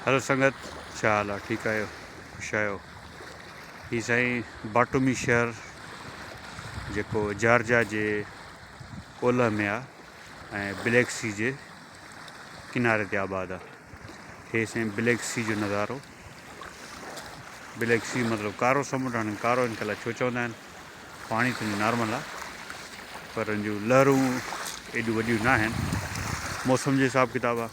هلو سنگت ڇا حال آ ٺيڪ آهيو خوش آهيو هي سائين باٽومي شهر جيڪو جارجا جي اولهه ۾ آ ۽ بليڪ سي جي ڪناري تي آباد آ هي سائين بليڪ سي جو نظارو بليڪ سي مطلب ڪارو سمنڊ هن ڪارو ان ڪلا ڇو چوندا آهن پاڻي ته نارمل آ پر ان جو لهرون ايڏيون وڏيون نه آهن موسم جو حساب ڪتاب آ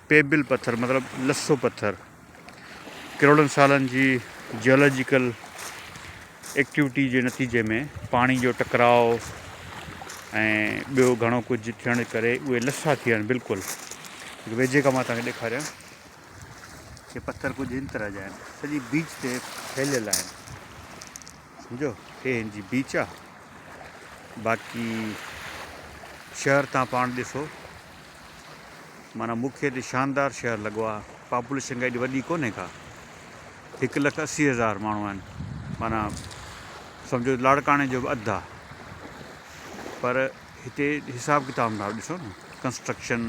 پيبل پٿر مطلب لسو پٿر ڪروڙن سالن جي جيالاجيڪل ايڪٽيوٽي جي نتيجي ۾ پاڻي جو ٽڪراء ۽ ٻيو گهڻو ڪجهه ٿيڻ ڪري اهي لسا ٿي ويا آهن بلڪل ويجهي کان مان توهان کي ڏيکاريان ڪي پٿر ڪجهه هن طرح جا آهن سڄي بيچ تي ڦهليل آهن سمجھو هي هن جي بيچ آهي باقي شهر تان پاڻ ڏسو معنيٰ مون کي ته شاندار شهر لڳو آ پاپوليشن ڪا ايڏي وڏي ڪونهي ڪا هڪ لک اسي هزار ماڻهو آهن معنيٰ سمجهو لاڙڪاڻي جو به اڌ آ پر هتي حساب ڪتاب نٿا ڏسو نه ڪنسٽرڪشن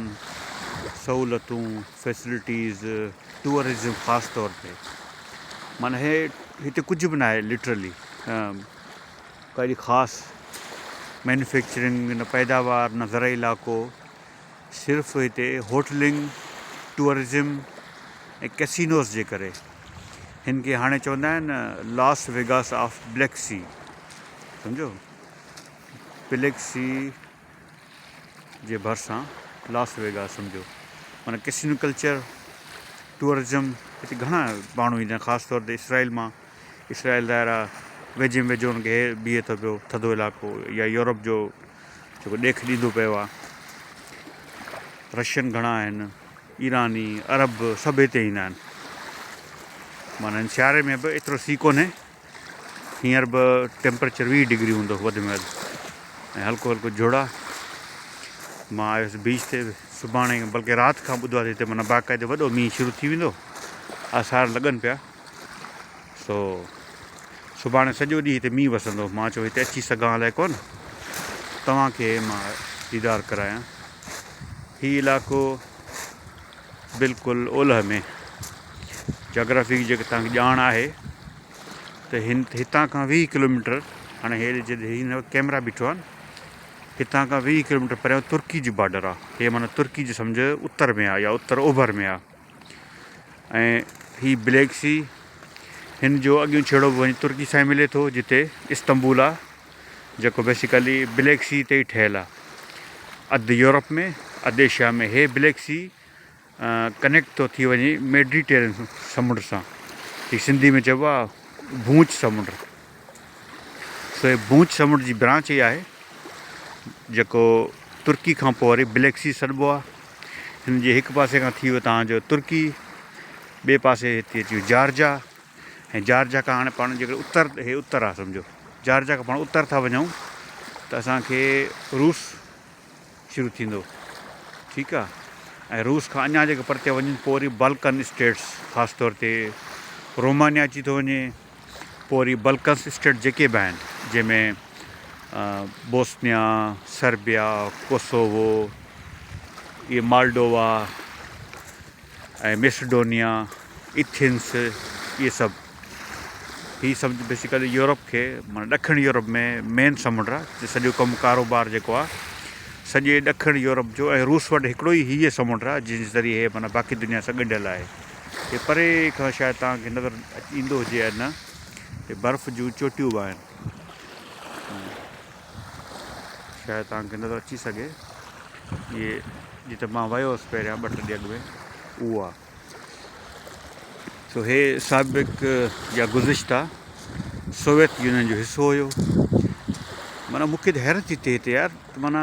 سهولتون فيسلٽيز ٽوئرزم خاص طور تي معنيٰ هي هتي ڪجهه به ناهي لٽرلي ڪهڙي خاص مينوفيڪچرنگ، نه پيداوار، نه زرعي علائقو، صرف هتي هوٽلنگ، ٽوئرزم ۽ ڪيسينوز جي ڪري. هن کي هاڻي چوندا آهن Las Vegas of Black Sea. سمجهيو؟ Black Sea. جي ڀرسان لاس ويگاس سمجهو معنيٰ ڪسينو ڪلچر ٽوئرزم هتي گهڻا ماڻهو ايندا آهن خاص طور تي اسرائيل مان اسرائيل ظاهر آهي ويجهي ۾ ويجهو ان کي بيهي ٿو پيو ٿڌو علائقو يا يورپ جو جيڪو ڏيک ڏيندو پيو آهي رشين گهڻا آهن ايراني عرب سڀ هتي ايندا آهن معنيٰ سياري ۾ به ايترو سي ڪونهي هينئر به ٽيمپريچر ويهه ڊگري هوندو وڌ ۾ وڌ ۽ هلڪو هلڪو جهڙا مان آيس بيچ تي سڀاڻي بلڪه رات کان ٻڌو آهي هتي مانا باقاعدي وڏو مينهن شروع ٿي ويندو آثار لڳن پيا سو سڀاڻي سڄو ڏينهن هتي مينهن وسندو مان چيو هتي اچي سگهان الائي ڪون توهان کي مان ديدار ڪرايان هي علاقو بلڪل اولهه ۾. جاگرافي جي جيڪڏهن توهان کي ڄاڻ آهي ته هتان کان ويهه ڪلوميٽر هاڻي هي جتي هن وقت ڪئميرا بيٺو آهن هتان کان ويهه ڪلوميٽر پريان ترڪي جي بارڊر آ هي معنيٰ ترڪي جي سمجهه اتر ۾ آ يا اتر اوڀر ۾ آ ۽ هي بليڪ سي هن جو اڳيون ڇيڙو به وڃي ترڪي سان ملي ٿو جتي استنبول آ. جيڪو بيسيڪلي بليڪ سي تي ئي ٺهيل آهي. اڌ يورپ ۾ اڌ ايشيا ۾ هي بليڪ سي ڪنيڪٽ ٿو ٿي وڃي ميڊيٽيرين سمنڊ سان جيڪي سنڌي ۾ چئبو آهي ڀونچ سمنڊ سو هي ڀونچ سمنڊ جي برانچ ئي آهي جيڪو ترڪي کان پوء وري بليڪ سي سڏبو آهي هن جي هڪ پاسي کان ٿي ويو تهان جو ترڪي ٻي پاسي هتي اچي جارجا ۽ جارجا کان هاڻي پاڻ جيڪڏهن اتر هي اتر آهي سمجهو جارجا کان پاڻ اتر ٿا وڃون ته اسان کي روس شروع ٿيندو ٺيڪ آ ۽ روس کان اڃا جيڪو پرتي وڃن پوء وري بلڪن اسٽيٽس خاص طور تي رومانيا اچي ٿو وڃي پوء وري بلڪنس اسٽيٽ جيڪي به آهن جنهن ۾ بوسنيا سربيا ڪوسوو اي مالڊووا ۽ ميسڊونيا، ايٿنس اهي سڀ هي سمجهه بيسيڪلي يورپ کي معنيٰ ڏکڻ يورپ ۾ مين سمنڊ آ جي سڄو ڪم ڪاروبار جيڪو آ سڄي ڏکڻ يورپ جو ۽ روس وٽ هڪڙو ئي هيء سمنڊ آ جنهن جي ذريعي هي معنيٰ باقي دنيا سان ڳنڍيل آهي هي پري کان شايد توهان کي نظر ايندو هجي يا نه هي برف جون چوٽيون به آهن. شايد توهان کي نظر اچي سگهي اهي جتي مان ويو هوس پهريان ٻه ٽي ڏينهن اڳ ۾ اهو آ سو هي سابق يا گذشته سوويت يونين جو حصو هيو معنی مون کي حيرت ٿي ٿئي هتي يار معنی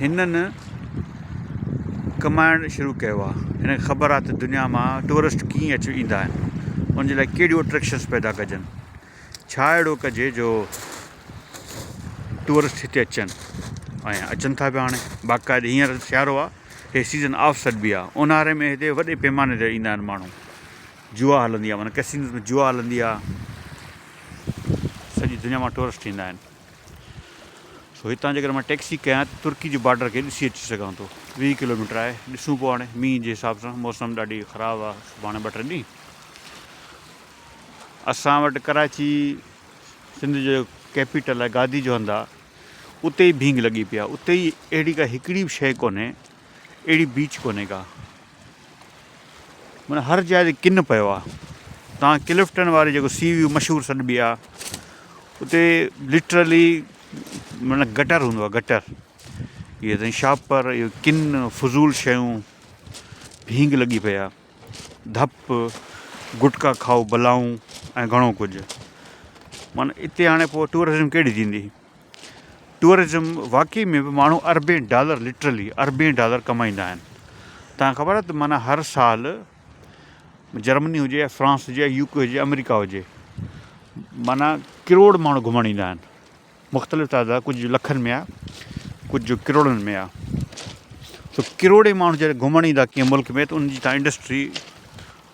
هنن ڪمائڻ شروع ڪيو آ هنن کي خبر آ ته دنيا مان ٽوئرسٽ ڪيئن اچي ايندا آهن ان جي لاء ڪهڙيون اٽريڪشنس پيدا ڪجن ڇا اهڙو ڪجي جو ٽوئرسٽ هتي اچن ۽ اچن ٿا پيا هاڻي باقاعده هينئر سيارو آ هي سيزن آف سيٽ بي آ اونهاري ۾ هتي وڏي پيماني تي ايندا آهن ماڻهو جوا هلندي آ معنيٰ ڪسينوز ۾ جوا هلندي آ سڄي دنيا مان ٽوئرسٽ ايندا آهن سو هتان جيڪڏهن مان ٽيڪسي ڪيان ته ترڪي جي بارڊر کي ڏسي اچي سگهان ٿو ويهه ڪلوميٽر آهي ڏسون پو هاڻي مينهن جي حساب سان موسم ڏاڍي خراب آهي سڀاڻي ٻه ٽي ڏينهن اسان وٽ ڪراچي سنڌ جو ڪيپيٽل آهي گادي جو هنڌ آهي اتي ئي ڀينگ لڳي پيا اتي ئي اهڙي ڪا هڪڙي به شيء ڪونهي اهڙي بيچ ڪونهي ڪا. معنيٰ هر جاء تي ڪن پيو آ. توهان ڪلفٽن واري جيڪو سي ويو مشهور سڏبي آ اتي لٽرلي معنيٰ گٽر هوندو آ گٽر. اهي تائين شاپر اهي ڪن فضول شيون ڀينگ لڳي پئي آ. ڌپ گٽڪا کائو بلائون ۽ گهڻو ڪجهه. معنيٰ اتي هاڻي پوء ٽوئرزم ڪهڙي ٿيندي. ٽوئرزم واقعي ۾ به ماڻهو اربين ڊالر لٽرلي اربين ڊالر ڪمائيندا آهن توهان کي خبر آهي ته معنيٰ هر سال جرمني هجي يا فرانس هجي يا يو ڪي هجي آمريڪا هجي معنيٰ ڪروڙ ماڻهو گهمڻ ايندا آهن مختلف تعداد ڪجهه لکن ۾ آهي ڪجهه ڪروڙن ۾ آهي ته ڪروڙين ماڻهو جڏهن گهمڻ ايندا ڪنهن ملڪ ۾ ته ان جي تان انڊسٽري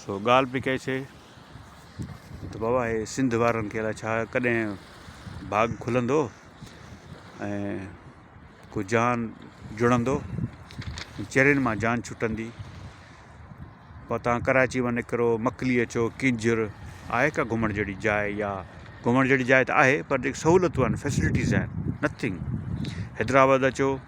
سو ڳالهه پئي ڪئي سي ته بابا هي سنڌ وارن کي الاء ڇا ڪڏهن ڀاڳ کلندو ۽ ڪو جان جڙندو چرين مان جان ڇٽندي پتان ڪراچي مان نڪرو مڪلي اچو ڪنجر آهي ڪا گهمڻ جهڙي جاء يا گهمڻ جهڙي جاء ته آهي پر جيڪي سهولتون آهن فيسلٽيز آهن نٿنگ حيدرآباد اچو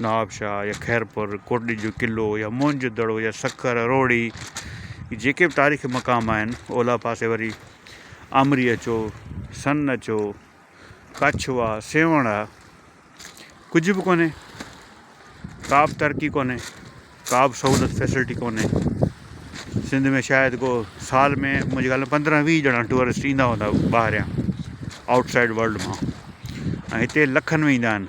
نواب شاهه يا خيرپور، ڪوٽڏيجي جو قلعو يا موهن جو دڙو يا سکر، روهڙي هي جيڪي به تاريخي مقام آهن، اولهه پاسي وري آمري اچو، سن اچو، ڪڇ واه، سيوهڻ آهي. ڪجهه به ڪونهي، ڪا به ترقي ڪونهي، ڪا به سهولت فيسلٽي ڪونهي. سنڌ ۾ شايد ڪو سال ۾ منهنجي خيال ۾ پندرهن ويهه ڄڻا ٽوئرسٽ ايندا هوندا ٻاهريان آئوٽ سائيڊ ورلڊ مان ۽ هتي لکن ۾ ايندا آهن.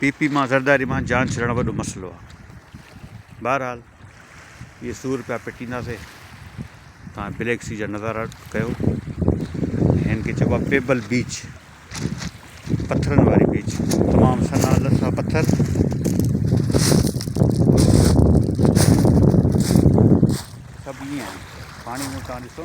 پي پي مان زرداري مان جان ڇڏڻ وڏو مسئلو آ بهرحال اهي سو روپيا پٽينداسي تان بليڪ سي جا نظارا ڪيو هن کي چئبو پيبل بيچ پٿرن واري بيچ تمام سنا لسا پٿر سڀ ائين آهن پاڻي ۾ تان ڏسو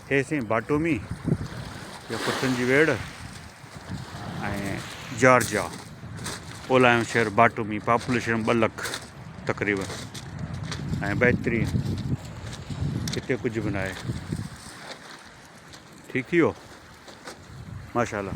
هي سائين باٽومي يا ڪتن جي ويڙهه ۽ جارجيا اولاهيون شهر باٽومي پاپوليشن ٻه لک تقريبن ۽ بهترين هتي ڪجهه به ناهي ٺيڪ ٿي ويو ماشاء الله